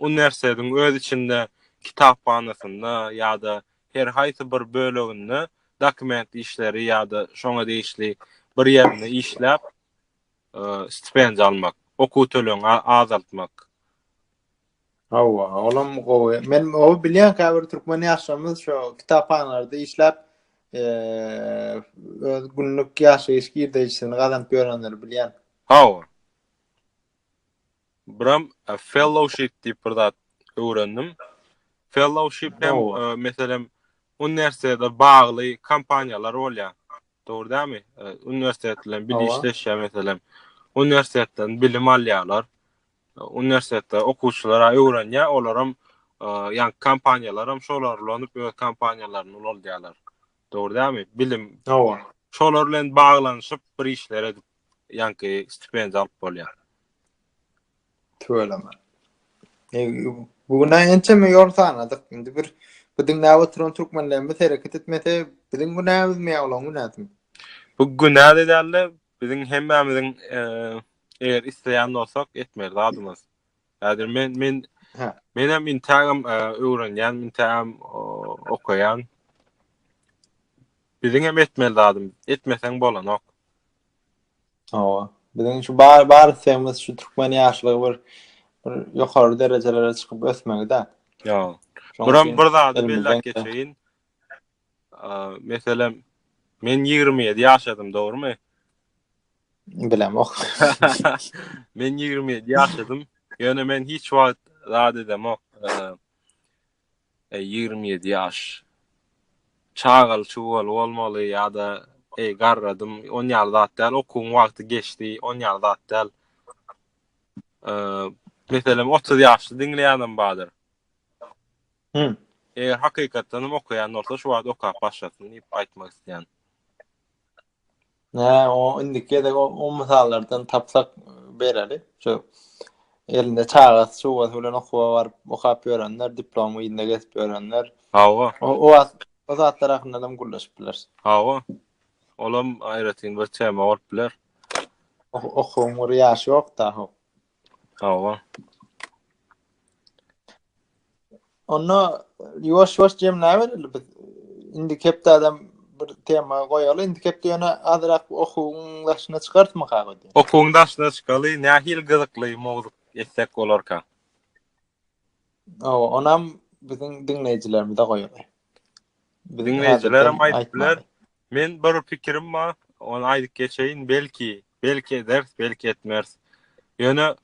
üniversitetiň öz içinde kitaphanasynda ýa-da her haýsy bir böleginde dokument işleri ýa-da şoňa degişli bir ýerinde işläp e, stipendiýa almak, okuw tölegini azaltmak. Hawa, olam gowy. Men o bilýän käbir türkmen ýaşlarymyz şo kitaphanalarda işläp eee öz günlük ýaşaýyş girdeýjisini gazanyp ýörenleri bilýän. Hawa. Biram fellowship diýip bir zat öwrendim. Fellowship hem meselem uniwersitete bagly kompaniýalar bolýar. Dogry dämi? Uniwersitet bilen bilişleşýär meselem. Uniwersitetden bilim alýarlar. Uniwersitetde okuwçylar öwrenýär, olaram ýa kompaniýalaram şolar ulanyp öz kompaniýalaryny ulaldýarlar. Dogry dälmi? Bilim. Hawa. Şolar bilen baglanyşyp bir işler edip ýaňky stipendiýa alyp bolýar. Tüweleme. E, bu gün ençeme ýol sanadyk. Indi bir bu diňläp oturan türkmenlerimiz hereket etmese, biziň günämizmi ýa olaň günäsimi? Bu günä dälde, Biziň hemmämiziň eger isleýän bolsak etmeli zadymyz. Häzir men men men hem intagam öwrenýän, intagam okaýan. Biziň hem etmeli zadym, etmeseň bolanok. Hawa. Biziň şu bar bar islegimiz şu türkmen ýaşlygy bir bir ýokary derejelere çykyp ösmegi-de. Ýa. Buram bir zady belläp geçeýin. Meselem, men 27 ýaşadym, dogrumy? Bilemok. men 27 ýaşadym. Ýöne men hiç wagt zat edemok. E, 27 ýaş. Çagaly çugaly bolmaly ýa-da eý garradym, on ýar zat däl, okuwyň wagty geçdi, on ýar zat däl. E, meselem 30 ýaşly diňleýänem bardyr. Hum. Eger hakykatdanam okaýan bolsa şu wagt okap başlasyn diýip aýtmak isleýän. Nä, o indiki gezek o, o mysallardan tapsak bereli. Şu elinde çagasy, çugasy bilen okuwa baryp, okap ýörenler, diplom yzynda gezip ýörenler. Hawa. O, o wagt o zatlar hakynda hem gürleşip bileris. Hawa. Olam aýratyn bir tema bolup biler. Okuwyň bir ýaşy ýok-da. Hawa. Onda ýuwaş-ýuwaş jemläbereli biz. Indi hepde adam bir tema goýaly. Indi hepde ýöne azrak okuwyň daşyna çykartmak hakda. Okuwyň daşyna çykaly, nähili gyzykly mowzuk etsek bolarka? Awa, onam biziň diňleýjilerimize goýaly. Biziň Diňleýjiler hem aýdyp biler. Men bir pikirim bar, ony aýdyp geçeýin, belki, belki ederis, belki etmeris. Ýöne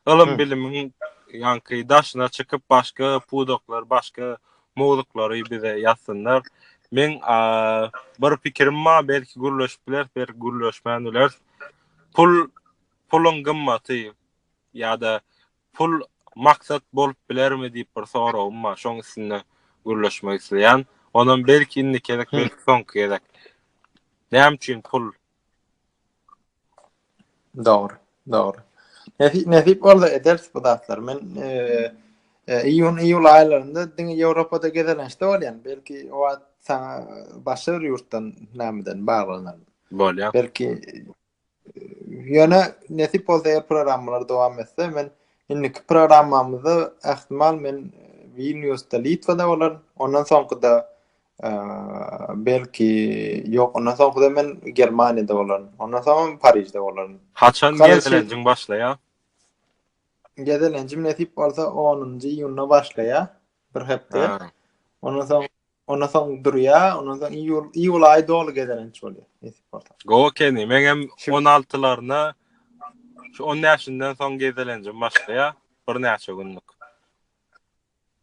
ylym bilimiň ýanky daşyna çykyp başga pudaklar, başga mowzuklary bize ýazsynlar. Men bir pikirim bar, belki gürleşip bileris, belki gürleşmän bileris. Pul, puluň gymmaty ýa-da Pul maksat bolup bilermi diýip bir soragym bar. Şoň üstünde gürleşmek isleýän. Onam belki indiki gezek, belki soňky gezek. Näme üçin pul? Dogry, dogry. Nesip, nesip bolsa ederis bu zatlar. Men eee E, iýun iýul aýlarynda diňe Ýewropada gezelençde bolýan. Belki o wagt saňa başga bir ýurtdan nämeden baglanar. Bolýar. Belki Ýöne nesip bolsa eger programmalar dowam etse, men indiki programmamyzda ähtimal men Vilniusda, Litwada bolaryn. Ondan soňkuda belki ýok, ondan soňkuda men Germaniýada bolaryn. Ondan soň Parižde bolaryn. Haçan gezelenjiň başlaýar? Gezelenjim nesip bolsa 10-njy iýunda başlaýar, bir hepde. Ondan soň Ondan soň durýa, ondan soň iýul, iýul aýy doly gezelenç bolýar. Nesip bolsa. Gowy keni, men hem 16-laryna şu 10 ýaşyndan soň gezelenjim başlaýar. Bir näçe günlük.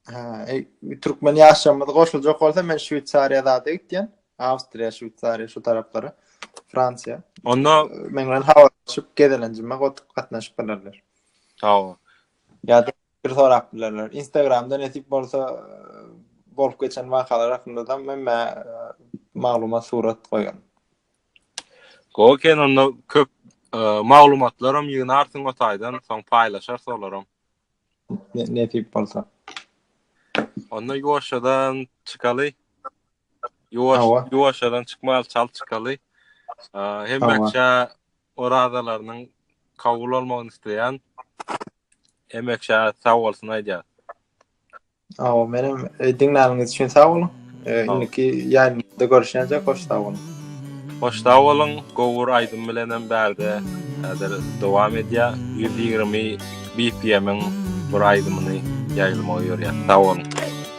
Ha, e, türkmen ýaşlarymyz goşuljak bolsa men Şweýsariýa zada gitýän. Awstriýa, Şweýsariýa şu taraplara. Fransiýa. Onda men bilen habarlaşyp gezelenjime gotup gatnaşyp bilerler. Sag ol. Ýa-da Bir sorap bilerler. Instagramda nesip bolsa bolup geçen wakalar hakynda da men mä maglumat surat goýan. Gowy eken onda köp maglumatlaram ýygnarsyň o taýdan, soň paýlaşarys olaram. Nesip bolsa. Onda ýuwaşjadan çykaly. Ýuwaş ýuwaşjadan çykmaly, çal çykaly. Hemmeçe orazalarynyň kabul bolmagyny isleýän. Emek şa sag bolsun aýdýar. Aw menem e, diňläniňiz üçin sag boluň. E, Sag ol. Indiki ýaýlymda görüşýänjek hoş sag boluň. Hoş sag boluň. Gowur aýdym bilenem bärde häzir dowam edýär. 120 BPM-iň bir aýdymyny ýaýlamagy ýörýär. Sag boluň.